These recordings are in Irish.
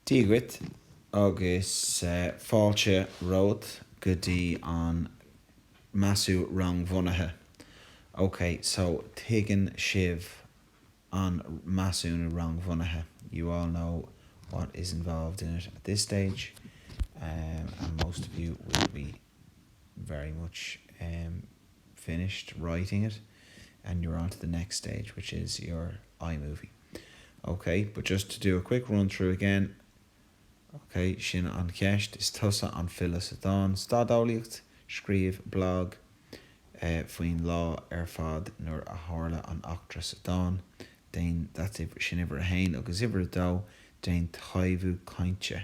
Dia dhuit agus fáilte romhat go dtí an Measúnú Rangbhunaithe. Ok, so tuigeann sibh an Measúnú Rangbhunaithe, you all know what is involved in it at this stage and most of you will be very much finished writing it and you're on to the next stage which is your iMovie ok but just to do a quick run through again ok sin an cheist is tusa an file sa dán stadeolaíocht scríobh blog faoin lá ar fad nuair a tharla an eachtra sa dán déan that's it sin uimhir a haon agus uimhir a dó déan taibhiú cainte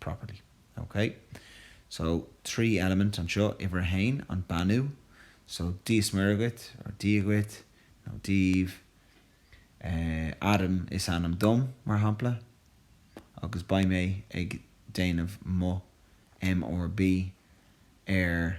properly. Ok. So, trí element anseo, uimhir a haon, an beannú. So, Dia 's Muire dhuit, or Dia dhuit, nó daoibh. Eh, Adam is ainm dom, mar shampla, agus beidh mé ag déanamh mo MRB ar.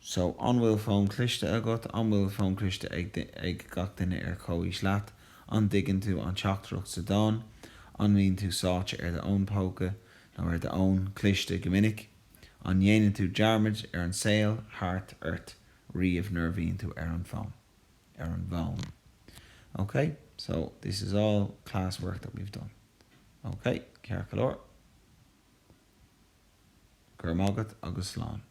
So, an bhfuil fón cliste agat? An bhfuil fón cliste ag, ag gach duine ar chomhaois leat? An dtuigeann tú an teachtaireacht sa dán? An mbíonn tú sáite ar do fhón póca, nó ar do fhón cliste go minic? An ndéanann tú dearmaid ar an saol thart ort riamh nuair a bhíonn tú ar an bhfón, ar an bhfón? OK, so this is all class work that we've done. OK, ceart go leor. Go raibh maith agat agus slán.